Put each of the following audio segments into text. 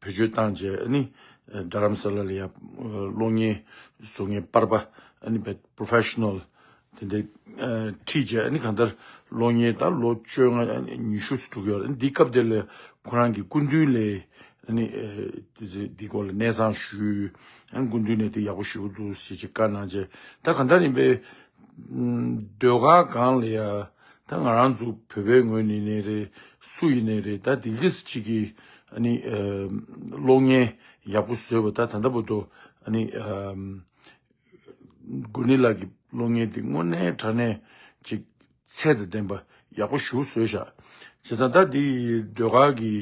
བེད་སྤྱོད་བཏང་རྗེས་རྡ་རམ་ས་ལ་ལ་ཡར་གློག་བརྙན་བཟོ་ལྔའི་དཔར་པ Professional དེ་འདྲ་ཁྲིད་རྗེས་གང་ལྟར་གློག་བརྙན་དང་ལོ་བཅོ་ལྔ་ཉི་ཤུ་ཟུར་དྲུག་ཡོད་འདིའི་སྐབས་དེར་ཁོ་རང་གི་སྐུ་མདུན་ལས་འདིའི་སྐོར་ལ་གནས་ཚང་ཞུས་སྐུ་མདུན་ནས་འདི་ཡག་པོ་ཞུས་འདུག་ཅེས་བཀའ་གནང་རྗེས་ད་གང་ལྟར་ཡིན་པའི་ཟློས་གར་སྒང་ལ་ཡར། ད་ང་རང་ཚོ་བོད་པའི་ངོས་ནས་ནས་རེད་སུ་ཡིན་ནས་རེད་ད་དེ་གི་སི་གཅིག་གི་ཨ་ནི་གློག་བརྙན་ཡག་པོ་བཟོས་པ་ད་ད་ལྟ་བུ་དོ་ཨ་ནི་དགོན་ནི་ལགས་ཀྱི་གློག་བརྙན་དེ་དངོས་གནས་དྲ་གནས་ཅིག་ཚད་དང་ལྡན་པ་ཡག་པོ་ཞུ་བཟོས་བཞག་བྱས་ཙང་ད་དེ་ཟློས་གར་གི་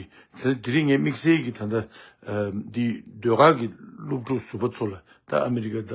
དེ་ད་དེ་རིང་ངས་དམིགས་བསལ་གྱི་ད་ད་དེ་ཟློས་གར་གི་སློབ་ཕྲུག་ཟུར་པ་ཚོ་ལ་ད་ཨ་མི་རི་ཀ་ད།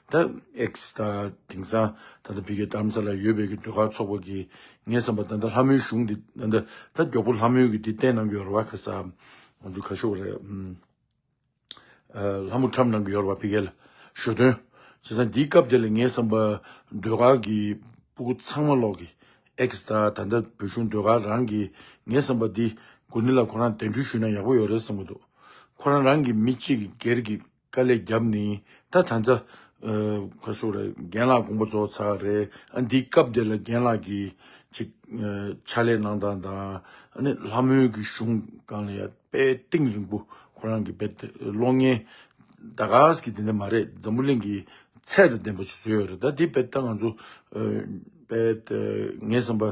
ད་ཨེག་སི་ད་དེང་སང་ད་ལྟ་བི་གའི་གཏམ་ས་ལ་ཡོད་བེ་གི་འདོད་ཁ་ཚོགས་པ་གིས་ངས་བསམ་པ་ད་ལྟ་ལྷ་མོའི་གཞུང་འདི་ད་ལྟ་ད་མགྱོགས་པོ་ལྷ་མོའི་གི་འདི་བསྟན་གནང་གི་ཡོར་བ་ག་ས་ང་ཚོ་ག་ཤོག་རེད་ཨ་ལྷ་མོ་ཁྲམ་གནང་གི་ཡོར་བ་བི་གའི་ལ་ཞོ་སྟོན་བྱས་སང་འདིའི་སྐབས་དེ་ལ་ངས་བསམ་པ་འདོད་ཁ་གི་སྤུ་གུ་ཚང་མ་ལོག་གི་ཨེག་སི་ད་ད་ལྟ་བོད་གཞུང་འདོད་ཁ་རང་གི་ངས་བསམ་པ་འདི་དགོན་འདི་ལ་ཁོ་རང་གདན་འདྲུད་ཞུས་ན་ཡག་པོ་ཡོད་རེད་བསམ་གི་འདུག་ཁོ་རང་རང་གི་མི་གཅིག་གི་སྒེར་གི། དཀའ་ལས་རྒྱབ་ནི་ད་ད་ཛ། ཁ་ཤོ་རེད་རྒན་ལགས་དགོངས་པ་རྫོགས་ཚར་རེད་ཨ་འདི་སྐབས་འདི་ལ་རྒན་ལགས་ཀྱི། ཅིག། ཕྱག་ལས་གནང་སྟངས་དང་ཨ་ནི་ལྷ་མོའི་གི་གཞུང་གང་ལ་ཡ་དཔལ་སྟེང་རིང་པོ་ཁོ་རང་གི་བེད་ཀློག་ངན། ད་གཟ་གི་དེ་འད་མ་རེད་འཛམ་བུ་གླིང་གི་ཚད་དང་ལྡན་པ་ཞིག་བཟོས་ཡོད་རེད་ད་དེ་བེད་ད་ང་ཚོ། བེད་ངས་བསམ་པ།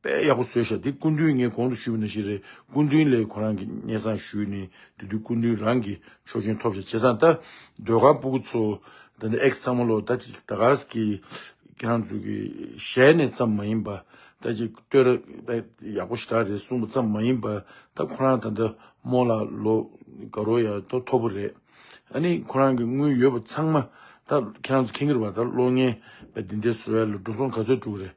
དཔེ་ཡག་པོ་བཟོས་ཤག་འདི་སྐུ་མདུན་ངས་གོང་དུ་ཞུས་པའི་ནང་བཞིན་རེད་སྐུ་མདུན་ལས་ཁོ་རང་གི་སྙན་བཟང་ཞུས་ནས་དེ་དུས་སྐུ་མདུན་རང་གི་ཆོག་མཆན་ཐོབ་ཤག་བྱས་ཙང་ད་ཟློས་གར་སྤུ་གུ་ཚོ་ད་ནི་ཨེག་ཚང་མ་ལོ་ད་ཅིག་ད་གར་གི་ཁྱེད་རང་ཚོས་གི་ཞལ་ནས་ཙམ་མ་ཡིན་པ་ད་ཅིག་བསྟོད་ར་ཡག་པོ་ཞེ་དྲག་རེད་གསུངས་པ་ཙམ་མ་ཡིན་པ་ད་ཁོ་རང་ད་ལྟ་མོ་ལ་ལོ་ག་རོ་ཡག་ཐོ་ཐོ་པོ་རེད་ཨ་ནི་ཁོ་རང་གི་དངུལ་ཡོད་པ་ཚང་མ་ད་ཁྱེད་རང་ཚོ་ཁེང་གི་རེད་བ་ད་གློག་བརྙན་བ་འདི་འདྲའི་བཟོ་བ་ལ་འགྲོ་སོང་ག་ཚོད་དཀྲུག་གི་རེད་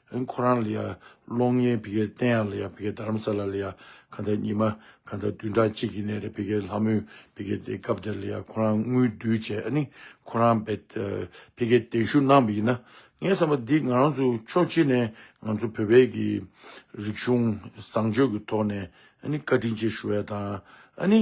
ཨེ་ཁོ་རང་ལ་ཡ། གློག་བརྙན་བི་གའི་སྟེང་ཡང་ལ་ཡ་བི་གའི་རྡ་རམ་ས་ལ་ལ་ཡ། གང་ལྟར་ཉི་མ། གང་ལྟར་བདུན་ཕྲག་གཅིག་གི་ནས་རེད་བི་གའི་ལྷ་མོས་བི་གའི་དེ་སྐབས་དེར་ལ་ཡ་ཁོ་རང་དངུལ་བསྡུས་བྱས་ཨ་ནི། ཁོ་རང་བེ། བི་གའི་གདན་ཞུ་གནང་བི་ཡིན་ན། ངའི་བསམ་པ་འདི་ང་རང་ཚོ་ཕྱོགས་གཅིག་ནས་ང་ཚོ་བོད་བེ་གི། རིག་གཞུང་བཟང་སྤྱོད་ཀྱི་ཐོག་ནས་ཨ་ནི་བཀའ་དྲིན་ཆེ་ཞུ་བས་དང། ཨ་ནི།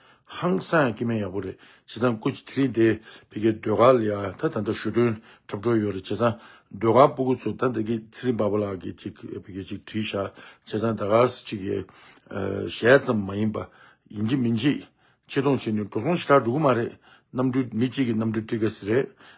ཧང་སང་སྐྱེ་མེད་ཡག་པོ་རེད་བྱས་ཙང་སྐུ་ཚེ་རིང་དེས་ཕི་གའི་ཟློས་གར་ལ་ཡང་ད་ད་འདྲ་ཞུ་དོན་འཁྲབ་འགྲོ་ཡོད་རེད་བྱས་ཙང་ཟློས་གར་པོ་སྐུ་ཚོ་ད་ད་གི་ཚེ་རིང་པ་པོ་ལགས་ཀྱི་ཅིག་ཕི་གའི་ཅིག་བྲིས་བཞག་བྱས་ཙང་ད་གར་སི་ཅིག་གི་ཞལ་ཙམ་མ་ཡིན་པ་ཡིན་གྱི་མིན་གྱི་ཆེ་མཐོང་བྱས་ནས་འགྲོ་སོང་ཞི་དྲག་འགྲོ་གི་མ་རེད་གནམ་གྲུས་མི་གཅིག་གི་གནམ་གྲུས་བཀྲིས་དགའ་སི་རེད